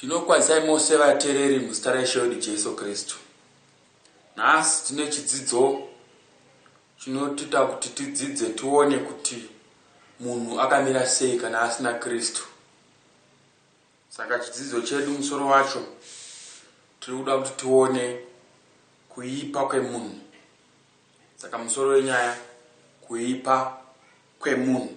Tinokwazisai mose vatereri muzita raIshe wedu Jesu Kristu. Nhasi tine chidzidzo chinotita kuti tidzidze tione kuti munhu akamira sei kana asina Kristu. Saka chidzidzo chedu musoro wacho tiri kuda kuti tione kuipa kwemunhu. Saka musoro wenyaya kuipa kwemunhu.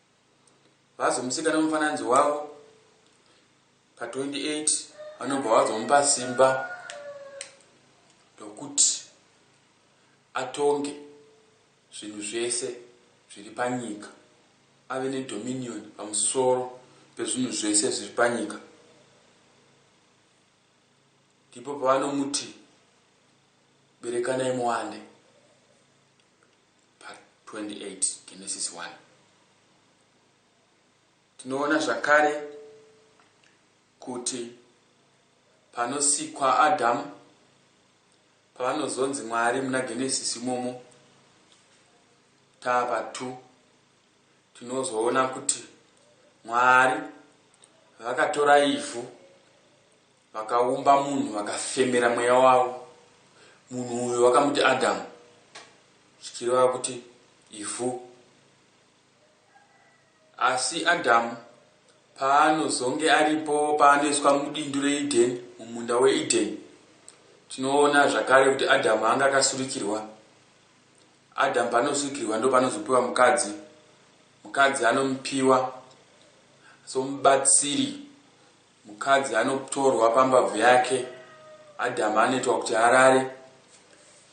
vazomuseka nemufananidzo wavo pa 28 vanobva vazomupa simba rokuti atonge zvinhu zvese zviri panyika ave nedominion pamusoro pezvinhu zvese zviri panyika ndipo pavanomuti berekanai muwande part 28 genesis 1 tinoona zvakare kuti panosikwa adhamu pavanozonzi mwari muna genesis imomo tava 2 tinozoona kuti mwari vakatora ivhu Vakaumba munhu vakafemera mweya wavo munhu uyo vakamuti Adamu zvichireva kuti ivhu. Asi Adamu paanozonge aripo paanoiswa mudindu reEden mumunda weEden tinoona zvakare kuti Adamu anga akasurikirwa. Adamu panosurikirwa ndo panozopiwa mukadzi. Mukadzi anomupiwa somubatsiri Mukadzi anotorwa pambabvu yake, Adhamu anoitwa kuti arare,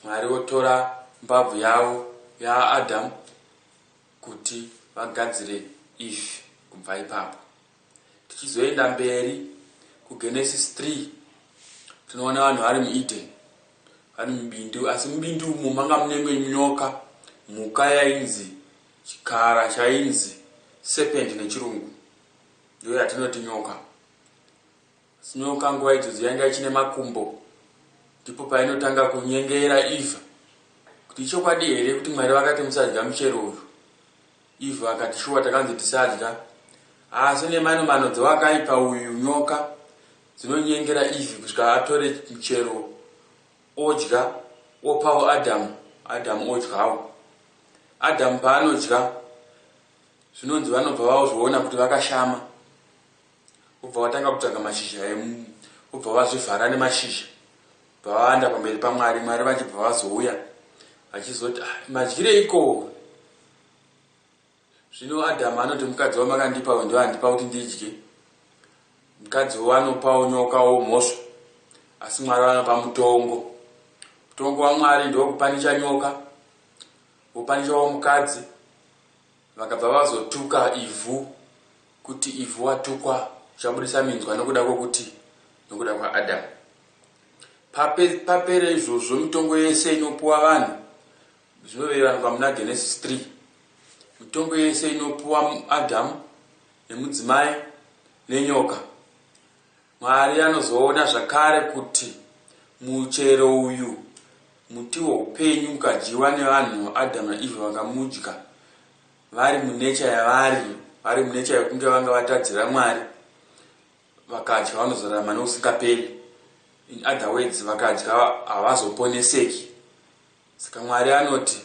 Mwari votora mbabvu yavo yaAdhamu kuti vagadzire Eve kubva ipapo. Tichizoenda mberi kuGenesis 3 tinoona vanhu vari muEden, vari mubindu, asi mubindu umu manga munemwe nyoka, mhuka yainzi chikara chainzi serpent nechirungu. Ndiyo yatinoti nyoka. Asi nyoka nguva idzodzo yanga ichine makumbo. Ndipo painotanga kunyengera Eva kuti ichokwadi here kuti Mwari vakati musadya muchero uyu. Eva akati shuwa takanzi tisadya. Asi nemano mano dzewakaipa uyu nyoka dzinonyengera Eve kusvika atore muchero odya opawo Adam. Adam odyawo. Adam paanodya. Zvinonzi vanobva vazviona kuti vakashama vobva vatanga kutsvaga mashizha emu vobva vazvivhara nemashizha bva vaanda pamberi pamwari mwari vachibva vazouya vachizoti ah, madyireiko zvino adhamu anoti mukadzi wamakandipa uyu ndoandipa kuti ndidye mukadzi wo anopawo nyoka wo mhosva asi mwari vanopa mutongo mutongo wamwari ndokupanisha nyoka vopanisha wo mukadzi Vakabva vazotuka Ivhu kuti Ivhu watukwa uchabudisa minzwa nokuda kwokuti nokuda kwaAdhamu. Pape, papere izvozvo mitongo yese inopuwa vanhu zvinovevanwa muna Genesis 3. Mitongo yese inopuwa Adhamu nemudzimai nenyoka. Mwari anozoona zvakare kuti muchero uyu, muti woupenyu, ukadyiwa nevanhu, Adam naEve vakamudya vari munecha yavari, vari munecha yokunge vanga vatadzira Mwari, vakadya vanozorarama nokusingaperi. In other words, vakadya havazoponeseki. Saka Mwari anoti,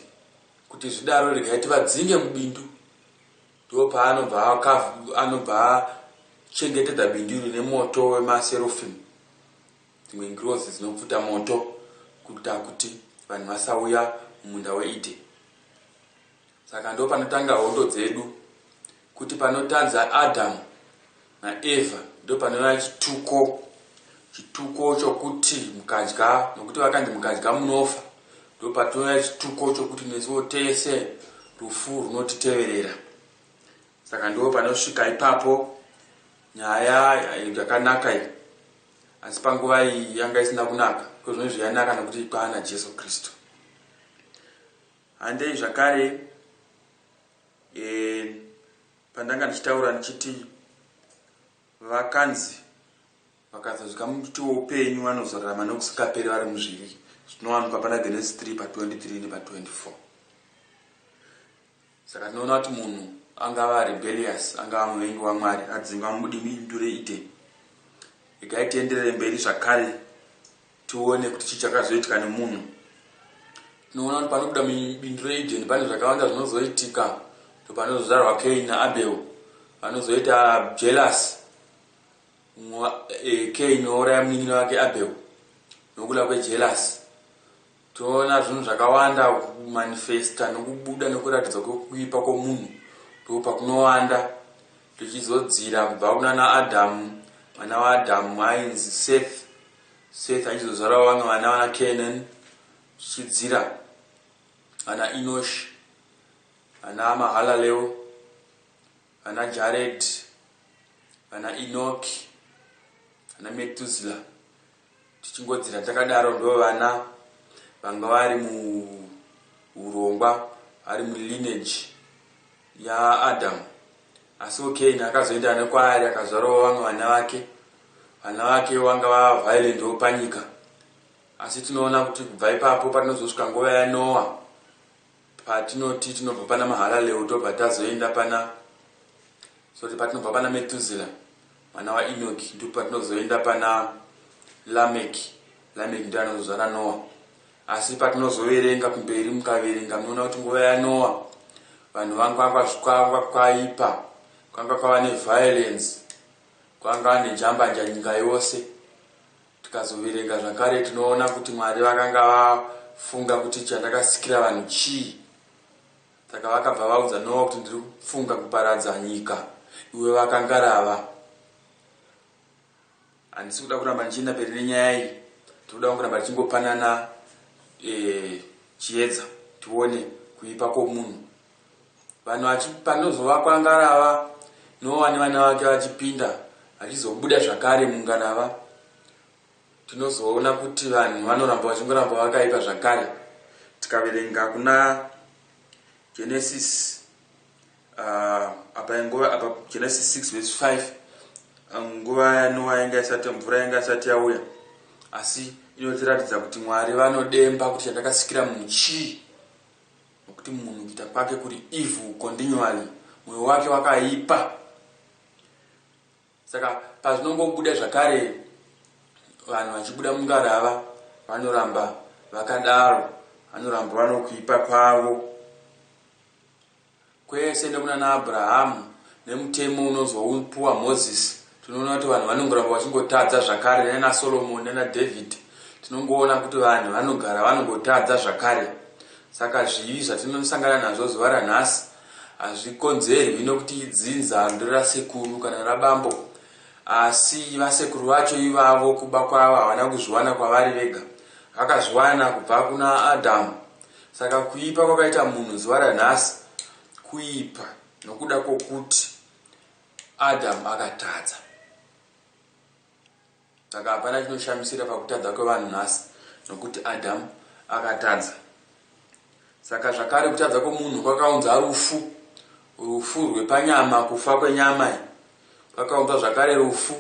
Kuti zvidaro regai tivadzinge mubindu. Ndopaanobva anobva achengetedza bindu iri nemoto wemaserofim, dzimwe ngirozi dzinopfuta moto kuita kuti vanhu vasauya mumunda weEden. Saka ndopanotanga hondo dzedu, kuti panotadza Adhamu. naEvha ndopanova chituko chituko chokuti mukadya nokuti vakanzi mukadya munofa ndopatinova chituko chokuti nesuwo tese rufu runotiteverera saka ndo panosvika ipapo nyaya yakanaka iyi asi panguva iyi yanga isina kunaka kozvino izvi yanaka nokuti ikwana jesu kristu handei zvakare e, Pandanga ndichitaura ndichiti vakanzi vakazodya muti woupenyu vanozorarama nokusingaperi vari muzvivi zvinowanikwa pana Genesis 3 pa 23 nepa 24. Saka tinoona kuti munhu angava rebellious, angava muvengi waMwari, adzingwa mubindu reEden. Regai tienderere mberi zvakare tione kuti chii chakazoitika nemunhu tinoona kuti panobuda mubindu reedeni pane zvakawanda zvinozoitika ndopanozozvarwa kain naabel vanozoita jealous kain eh, ouraya munin'ina wake abel nokuda kwejealous toona zvinhu zvakawanda kumanifesta nokubuda nokuratidzwa kwekuipa kwomunhu ndo pakunowanda tichizodzira kubva kunana adhamu mwana waadhamu ainzi seth Seth achizozvarawo vamwe vana vana Kenan zvichidzira vana Enosh, vana Mahalaleo, vana Jared, vana Enoch, vana Metuzila tichingodzira takadaro ndo vana vanga vari muurongwa vari mulineage yaAdhamu. Asiwo Keyini akazoenda nekwaari akazvarawo vamwe vana vake. Vana vake vanga vava vhairendiwo panyika. Asi tinoona kuti kubva ipapo patinozosvika nguva yaNoa, patinoti tinobva pana Mahalaleu tobva tazoenda pana, sorry, patinobva pana Metuzila Mwana wa Enoki ndipo patinozoenda pana Lameki. Lameki ndiye anozozvara Noa. Asi patinozoverenga kumberi mukaverenga munoona kuti nguva yaNoa vanhu vanga kwanga kwaipa, kwanga kwava neviolence, kwanga nejambanja nyika yose. Tikazoverenga zvakare tinoona kuti Mwari vakanga vafunga kuti chandakasikira vanhu chii. Saka vakabva vaudza Noa kuti ndiri kufunga kuparadza nyika iwe vakangarava. Handisi kuda kuramba ndichienda mberi nenyaya iyi. Tinoda kungoramba tichingopanana eh, chiedza tione kuipa kwomunhu. Vanhu vachipanozovakwa ngarava Noa nevana vake vachipinda vachizobuda zvakare mungarava. Tinozoona kuti vanhu vanoramba vachingoramba vakaipa zvakare. Tikaverenga kuna Genesis uh, apa ingova apa Genesis 6 verse 5 um, nguva yaNoa yanga isati mvura yanga isati yauya asi inotiratidza kuti Mwari vanodemba kuti chandakasikira munhu chii nokuti munhu kuita kwake kuri evil continually mwoyo wake wakaipa Saka pazvinongobuda zvakare vanhu vachibuda mungarava vanoramba vakadaro, vanoramba vanokuipa kwavo kwese nekunana Abrahamu nemutemo unonzwa upuwa Mozisi tinoona kuti vanhu vanongoramba vachingotadza zvakare nana Solomoni nana Dhavhidhi tinongoona kuti vanhu vanogara vanongotadza zvakare saka zvivi zvatinosangana nazvo zuva ranhasi Hazvikonzerwi nokuti idzinza ndiro rasekuru kana rabambo asi vasekuru vacho ivavo kuba kwavo havana kuzviwana kwavari vega, vakazviwana kubva kuna Adhamu. Saka kuipa kwakaita munhu zuva ranhasi kuipa nokuda kwokuti Adhamu akatadza. Saka hapana chinoshamisira pakutadza kwevanhu nhasi, nokuti Adhamu akatadza. Saka zvakare kutadza kwomunhu kwakaunza rufu, rufu rwepanyama, kufa kwenyama. Kwakaunza zvakare rufu,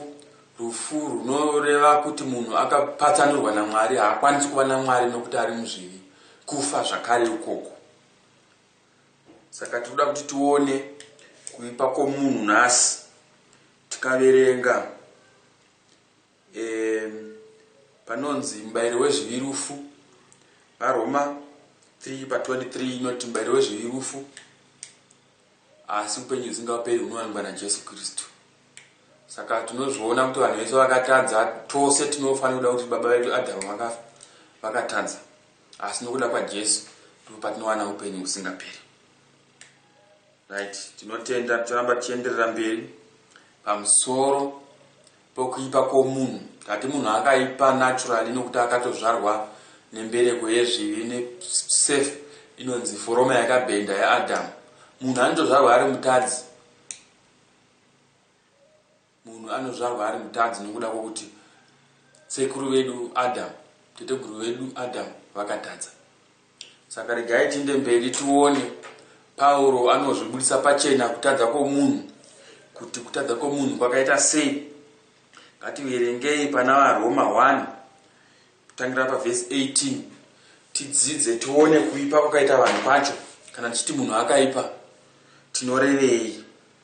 rufu runoreva kuti munhu akapatsanurwa naMwari, haakwanisi kuva naMwari nokuti ari muzvivi, kufa zvakare ikoko. Saka tinoda kuti tione kuipa kwomunhu nhasi tikaverenga e, panonzi mubayiro wezvivi rufu. VaRoma 3 pa 23 inoti mubayiro wezvivi rufu, asi upenyu husingaperi hunowanikwa naJesu Kristu. Saka tinozviona kuti vanhu vese vakatadza, tose tinofanira kuda kuti baba vedu Adhamu vakafa, vakatadza. Asi nokuda kwaJesu ndipo patinowana upenyu husingaperi. Right, tinotenda toramba tichienderera mberi pamusoro pokuipa kwomunhu. Tati munhu akaipa naturally nokuti akatozvarwa nembereko yezvivi nesafe inonzi foroma yakabhenda yaAdamu. Munhu anotozvarwa ari mutadzi. Munhu anozvarwa ari mutadzi nokuda kwokuti sekuru vedu Adhamu, teteguru vedu Adhamu, vakatadza. Saka regai tiinde mberi tione Pauro anozvibudisa pachena kutadza kwomunhu, kuti kutadza kwomunhu kwakaita sei. Ngativerengei pana vaRoma 1 kutangira pavhesi 18 tidzidze tione kuipa kwakaita vanhu kwacho. Kana tichiti munhu akaipa tinorevei?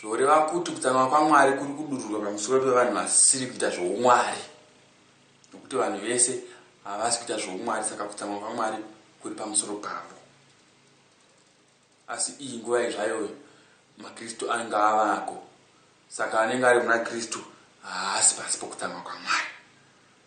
Zvoreva kuti kutsamwa kwaMwari kuri kudururwa pamusoro pevanhu vasiri kuita zvoumwari. Nokuti vanhu vese havasi kuita zvoumwari, saka kutsamwa kwaMwari kuri pamusoro pavo. Asi iyi nguva yezvayoyo maKristu anenge avako, saka anenge ari muna Kristu haasi pasi pokutsamwa kwaMwari.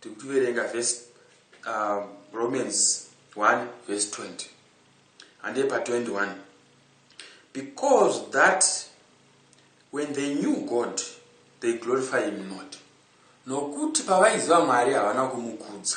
Tikuchiverenga vhesi um, Romans 1 vhesi 20 handei pa 21 because that when they knew God they glorify him not nokuti pavaiziva Mwari havana kumukudza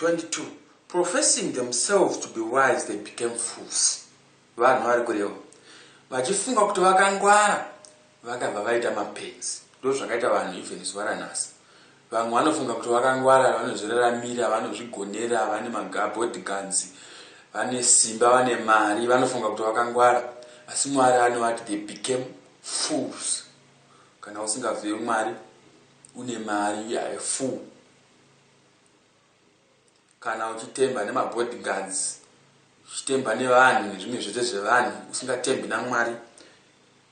22 professing themselves to be wise they became fools vanhu vari kureva vachifunga kuti vakangwara vakabva vaita mapenzi ndozvakaita vanhu even zuva ranhasi vamwe vanofunga kuti vakangwara vanozviraramira vanozvigonera vane magabod guns vane simba vane mari vanofunga kuti vakangwara asi mwari anovati they became fools kana usingazive mwari une mari you are a fool kana uchitemba nemabodyguards uchitemba nevanhu nezvimwe zvese zvevanhu usingatembi namwari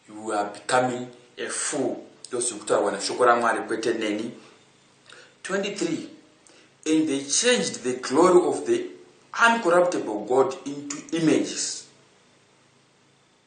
you are becoming a fool ndozviri kutaurwa neshoko ramwari kwete neni 23 and they changed the glory of the uncorruptible god into images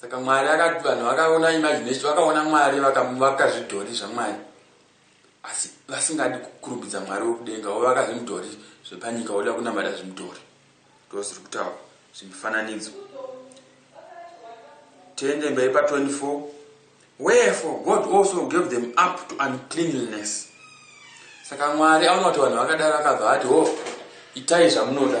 Saka Mwari akati vanhu vakaona imagination, vakaona Mwari vakamuvaka zvidhori zvaMwari. Asi vasingadi kukurumbidza Mwari wekudenga, wavaka zvimudhori zvepanyika woda kunamata zvimudhori. Ndozviri kutaura zvimifananidzo. Tiende mberi pa 24. Wherefore God also gave them up to uncleanliness. Saka Mwari aona kuti vanhu vakadaro akabva ati, "Ho, itai zvamunoda."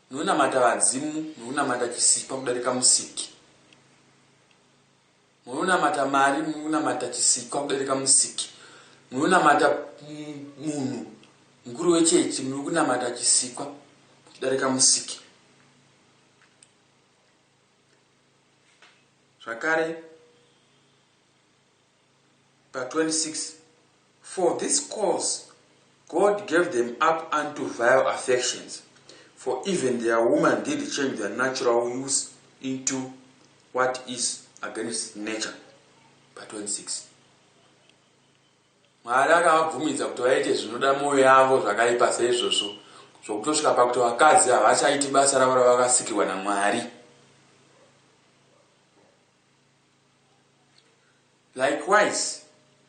Munonamata vadzimu, munonamata chisikwa kudarika musiki. Munonamata mari, munonamata chisikwa kudarika musiki. Munonamata munhu mukuru wechechi, muri kunamata chisikwa kudarika musiki. Zvakare, pa 26 for this cause God gave them up unto vile affections for even their woman did change their natural use into what is against nature pa 26 mwari akavabvumidza kuti vaite zvinoda mwoyo yavo zvakaipa seizvozvo zvokutosvika pakuti vakadzi havachaiti basa ravo ravakasikirwa namwari Likewise,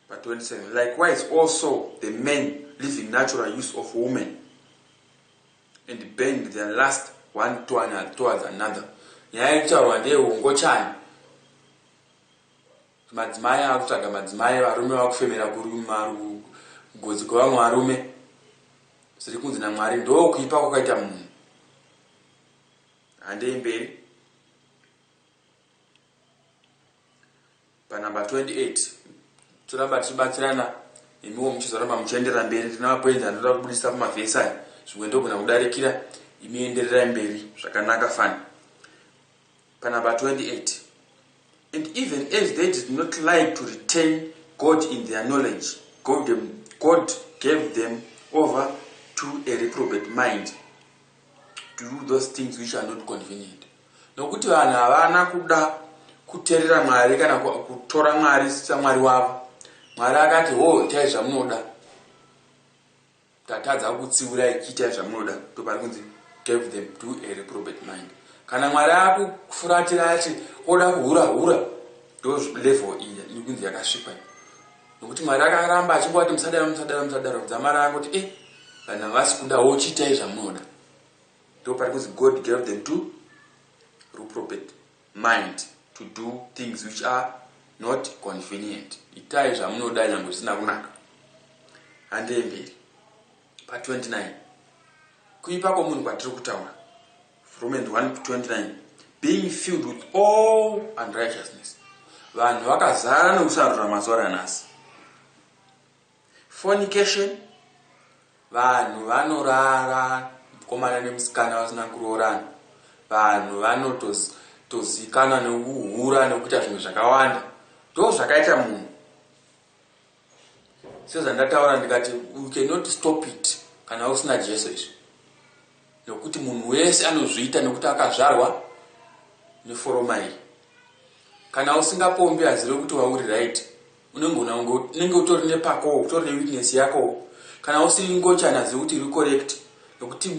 pa 27, likewise also the men live in natural use of women and bend their last one to another, towards another. Nyaya yekutaurwa ndeyehungochani. Madzimai akutsvaga madzimai, varume vakufemera kugodzi kwevamwe varume. Zviri kunzi naMwari ndokuipa kwakaita munhu. Handei mberi. panumber 28 toramba tichibatsirana imiwo muchizoramba muchienderera mberi ndina mapoinzi anoda kubudisa pamavhesi aya zvimwe ndogona kudarikira imi endererai mberi zvakanaka fani panumber 28 and even as they did not like to retain god in their knowledge god, them, god gave them over to a reprobate mind to do those things which are not convenient Nokuti vanhu havana kuda kuterera Mwari kana kutora Mwari saMwari wavo. Mwari akati, Ho, itai zvamunoda. Tatadza kukutsiura ichiitai zvamunoda. Ndopari kunzi gave them to a reprobate mind. Kana Mwari akufuratira ati oda kuhura hura, ndo level iyi ikunzi yakasvipa. Nokuti Mwari akaramba achingoti musadaro musadaro musadaro dzamara angoti eh vanhu havasi kuda wochiitai zvamunoda. Ndoparikuzi God gave them to ruprobet mind to do things which are not convenient. Itai zvamunoda nyangwe zvisina kunaka. Handei mberi. Pa 29. Kuipa kwomunhu kwatiri kutaura. Romans 1:29 being filled with all unrighteousness. Vanhu vakazara nokusarurama zuva ranhasi. Fornication, vanhu vanorara mukomana nemusikana vasina kuroorana, vanhu vanotozikanwa nekuhura nekuita zvinhu zvakawanda, ndozvakaita munhu sezvandataura ndikati you cannot stop it kana usina Jesu izvi. Nokuti munhu wese anozviita nokuti akazvarwa neforoma iyi. Kana usingapombi azive kuti wauri right, unenge una unenge utori nepako, utori newitness yako. Kana usiri ngochani azive kuti iri correct nokuti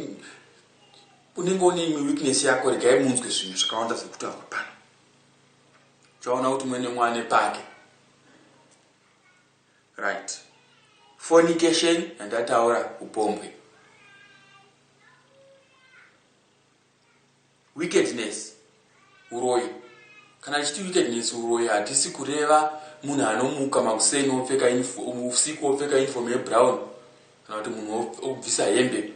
unenge une imwe witness yako regai munzwe zvinhu zvakawanda zviri kutaurwa pano. Uchaona kuti mwene mwana pake. Right. Fornication yandataura upombwe. Wickedness uroyi. Kana chiti wickedness uroyi hatisi kureva munhu anomuka makuseni opfeka usiku opfeka uniform yebrown kana kuti munhu obvisa hembe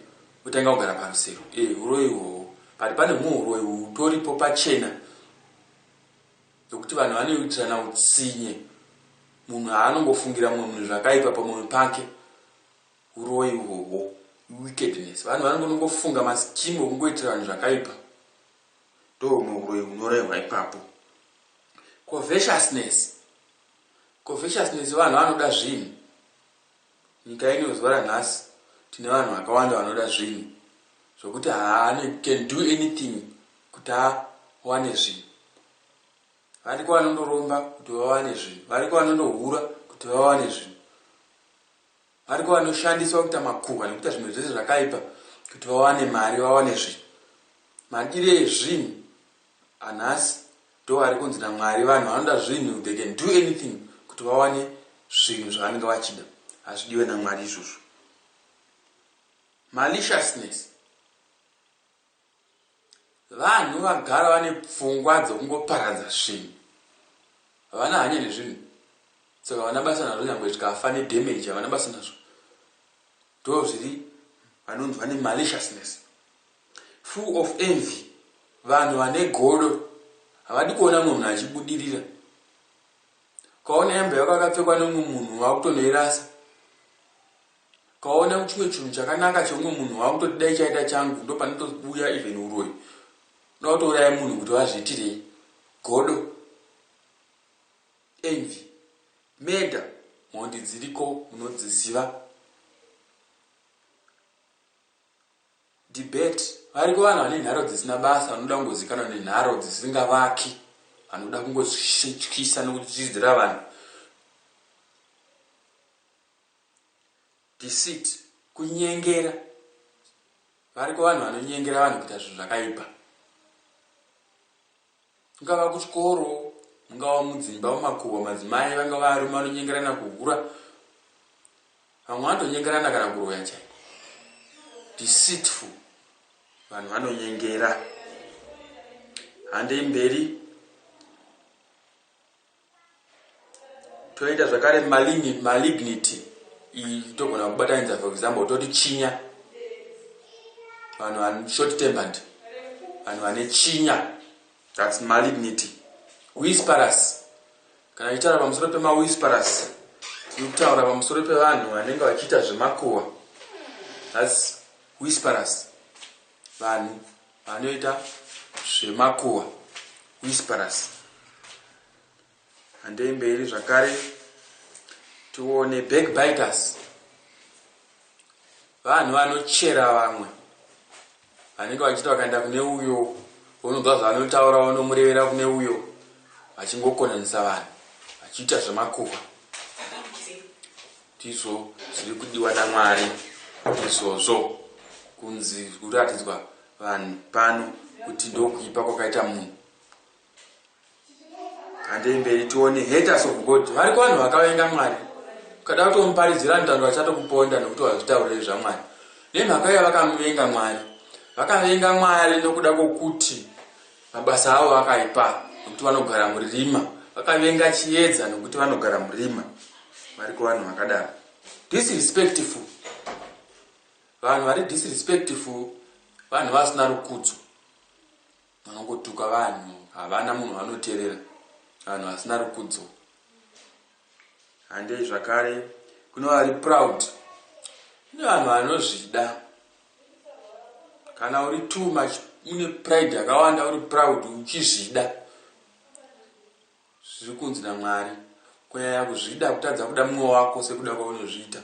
otanga kugara parusero. Eh, uroyi uhwohwo. But pane humwe uroyi hutoripo pachena Nokuti vanhu vanoitirana utsinye, munhu haanongofungira mumwe munhu zvakaipa pamoyo pake, uroyi uhwohwo, iwickedness. Vanhu vanongonongofunga mascheme okungoitira vanhu zvakaipa, ndohumwe uroyi hunorehwa ipapo. Covetousness, covetousness vanhu vanoda zvinhu. Nyika ino zuva ranhasi tine vanhu vakawanda vanoda zvinhu zvokuti haane can do anything kuti awane zvinhu. Variko vanondoromba kuti vawane zvinhu, variko vanondohura kuti vawane zvinhu, variko vanoshandiswa kuita makuhwa nekuita zvimwe zvese zvakaipa kuti vawane mari, vawane zvinhu. Madire ezvinhu anhasi. Ndoarikunzi naMwari vanhu vanoda zvinhu they can do anything kuti vawane zvinhu zvavanenge vachida hazvidiwe naMwari izvozvo maliciousness vanhu vagara vane pfungwa dzokungoparadza zvinhu havana hanya nezvinhu saka havana basa nazvo nyangwe zvikafa nedamage havana basa nazvo ndo zviri vanonzi vane maliciousness Full of envy vanhu vane godo havadi kuona munhu achibudirira ukaona hembe yako yakapfekwa neumwe munhu wakutonoirasa ukaona chimwe chinhu chakanaka cheumwe munhu wakutoti dai chaita changu ndopanotobuya even uroyi unoda kutouraya munhu kuti vazviitirei godo envy meda mhondi dziriko munodziziva Debate. Variko vanhu vane nharo dzisina basa vanoda kungozikanwa nenharo dzisingavaki vanoda kungotyisa nokutyidzira vanhu. Deceit. Kunyengera. Variko vanhu vanonyengera vanhu kuita zvinhu zvakaipa. Kungava kuchikoro, mungava mudzimba, mumakuhwa, madzimai vangava varume vanonyengerana kuhura. Vamwe vanotonyengerana kana kuroya chaiko. Deceitful. Vanhu vanonyengera. Handei mberi. toita zvakare malignity togona kubatanidza for example toti chinya vanhu vane short tempered vanhu vane chinya thats malignity whisperus kana ichitaura pamusoro pemawhisperus tiri kutaura pamusoro pevanhu vanenge vachiita zvemakuhwa thats whisperus vanhu Vanoita zvemakuhwa whisperers. Handei mberi zvakare tione backbiters. Vanhu vanochera vamwe vanenge vachiti vakaenda kune uyo vononzwa zvavanotaura vonomurevera kune uyo vachingokonanisa vanhu vachiita zvemakuhwa. Ndizvo zviri kudiwa naMwari izvozvo, kunzi zviri kuratidzwa vanhu pano kuti ndokuipa kwakaita munhu. Handei mberi tione haters of God. Variko vanhu vakavenga Mwari. Ukada kutomuparidzira anotaura achatokuponda nokuti wazvitaurire zvaMwari. Nemhaka yavakamuvenga Mwari. Vakavenga Mwari nokuda kwokuti Mabasa avo akaipa nokuti vanogara murima. Vakavenga chiedza nokuti vanogara murima. Variko vanhu vakadaro. Disrespectful. Vanhu vari disrespectful vanhu vasina rukudzo. Vanongotuka vanhu havana munhu vanoterera. Vanhu vasina rukudzo. Handei zvakare kune vari proud. Kune vanhu vanozvida. Kana uri too much une pride yakawanda uri proud uchizvida. Zviri kunzi naMwari kunyanya kuzvida kutadza kuda mumwe wako sekuda kwaunozviita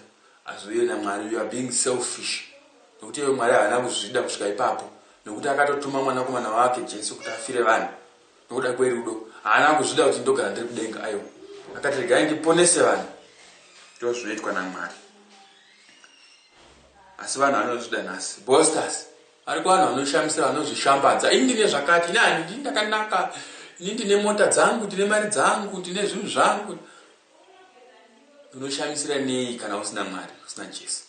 hazviuye naMwari you are being selfish. Nokuti iwe Mwari havana kuzvida kusvika ipapo nokuti akatotuma mwanakomana wake Jesu kuti afire vanhu. Nokuda kwerudo, haana kuzvida kuti ndogara ndiri kudenga. Aiwa, akati, Regai ndiponese vanhu. Ndizvo zvinoitwa naMwari. Asi vanhu vanozvida nhasi. Bosters. Ariko vanhu vanoshamisira, vanozvishambadza. Ini ndine zvakati, ini hani, ndini ndakanaka, ini ndine mota dzangu, ndine mari dzangu, ndine zvinhu zvangu. Unoshamisira nei kana usina Mwari, usina Jesu?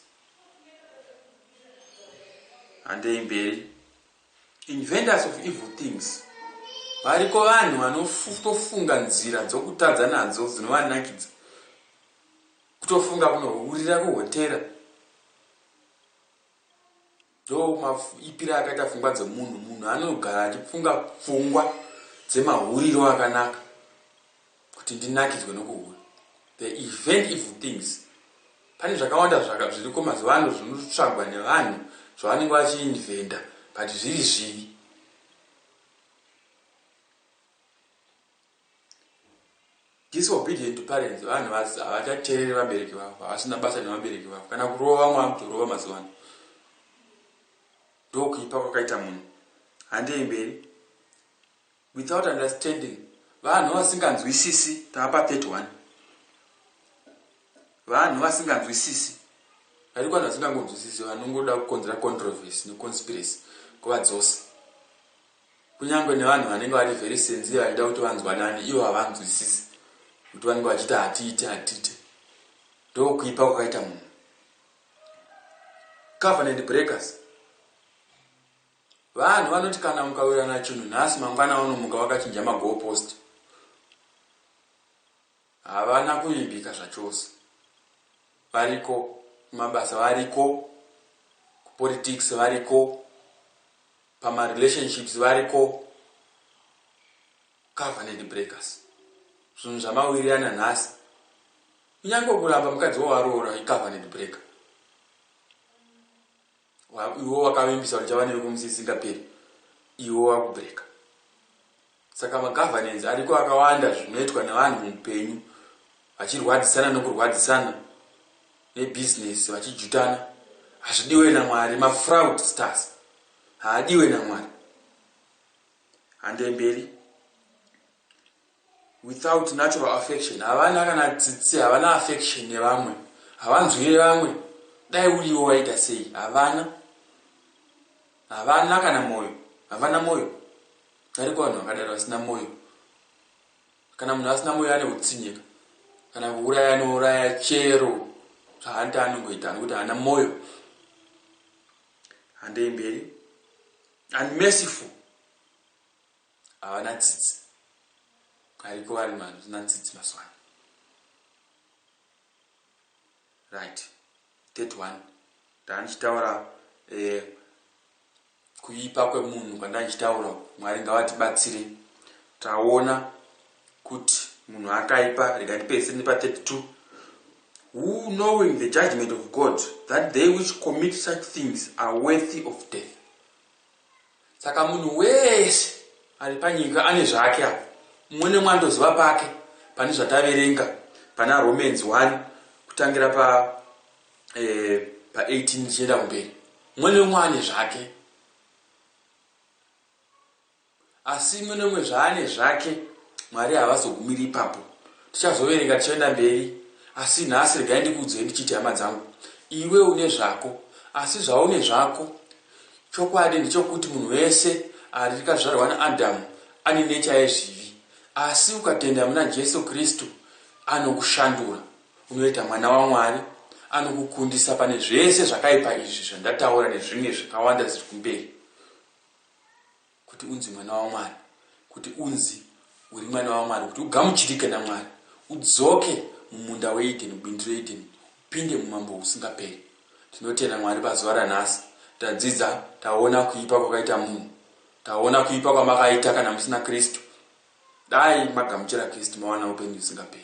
Handei mberi. Inventors of evil things variko vanhu vanotofunga nzira dzokutadza nadzo dzinovanakidza kutofunga kunohurira kuhotera ndomaipira akaita pfungwa dzemunhu munhu anogara achifunga pfungwa dzemahuriro akanaka kuti ndinakidzwe nokuhura the event evil things pane zvakawanda zvaka zviriko mazuva ano zvinotsvagwa nevanhu zvavanenge vachiinventa but zviri zvivi disobedient to parents vanhu havachateereri vabereki vavo havasina basa nevabereki vavo kana kurova vamwe vakutorova mazuva ano ndokuipa kwakaita munhu handei mberi Without understanding vanhu vasinganzwisisi taapa 31 vanhu vasinganzwisisi variko vanhu vasingangonzwisisi vanongoda kukonzera controversy neconspiracy kuvadzose kunyange nevanhu vanenge vari very sensiye vachida kuti vanzwanane ivo havanzwisisi kuti vanenge vachiita hatiite hatiite ndokuipa kwakaita munhu covenant breakers Vanhu vanoti kana mukawirirana chinhu nhasi mangwana unomuka wakachinja magoal post. Havana kuvimbika zvachose. Variko kumabasa variko, kupolitics variko, pamarelationships variko. Covenant breakers. Zvinhu zvamawirirana nhasi. Kunyange kuramba mukadzi wawaroora icovenant breaker. iwe wakavimbisa kuti chava newe kumusi isingaperi iwe wakubreka saka magovernance ariko akawanda zvinoitwa nevanhu muupenyu vachirwadzisana nokurwadzisana nebusiness vachijutana hazvidiwe namwari mafraud stars haadiwe namwari handemberi without natural affection havana kana tsitsi havana affection nevamwe havanzwire vamwe dai uriwo waita sei havana havana kana mwoyo havana mwoyo ariko vanhu vakadaro vasina mwoyo kana munhu asina mwoyo ane kutsinyeka kana kuuraya anouraya chero zvaanti anongoita nekuti haana mwoyo handei mberi unmerciful Havana tsitsi. Ariko vari mazina tsitsi maswana. Right. That one. Ndanichitaura eh kuipa kwemunhu kwandanichitaura Mwari ngavatibatsire. Taona kuti munhu akaipa rega tipese nepa 32 who knowing the judgment of God that they which commit such things are worthy of death. Saka munhu wese ari panyika ane zvake apa. Mumwe nemumwe anotoziva pake pane zvataverenga pana Romans 1 kutangira pa eh, pa 18 tichienda kumberi. Mumwe nemumwe ane zvake. Asi imwe neumwe zvaane zvake, Mwari havazogumiri ipapo. Tichazoverenga tichienda mberi, asi nhasi regai ndikuudzei ndichiti, hama dzangu, iwe une zvako, asi zvaune zvako, chokwadi ndechokuti munhu wese arikazvarwa naAdhamu ane necha yezvivi, asi ukatenda muna Jesu Kristu, anokushandura, unoita mwana waMwari, anokukundisa pane zvese zvakaipa izvi zvandataura nezvimwe zvakawanda zvirikumberi. Kuti unzi mwana waMwari, kuti unzi uri mwana waMwari, kuti ugamuchirike naMwari, udzoke mumunda weEdheni, mubindu reEdheni, upinde mumambo husingaperi. Tinotenda Mwari pazuva ranhasi, tadzidza, taona kuipa kwakaita munhu. Taona kuipa kwamakaita kana musina Kristu. Dai magamuchira Kristu mawana upenyu husingaperi.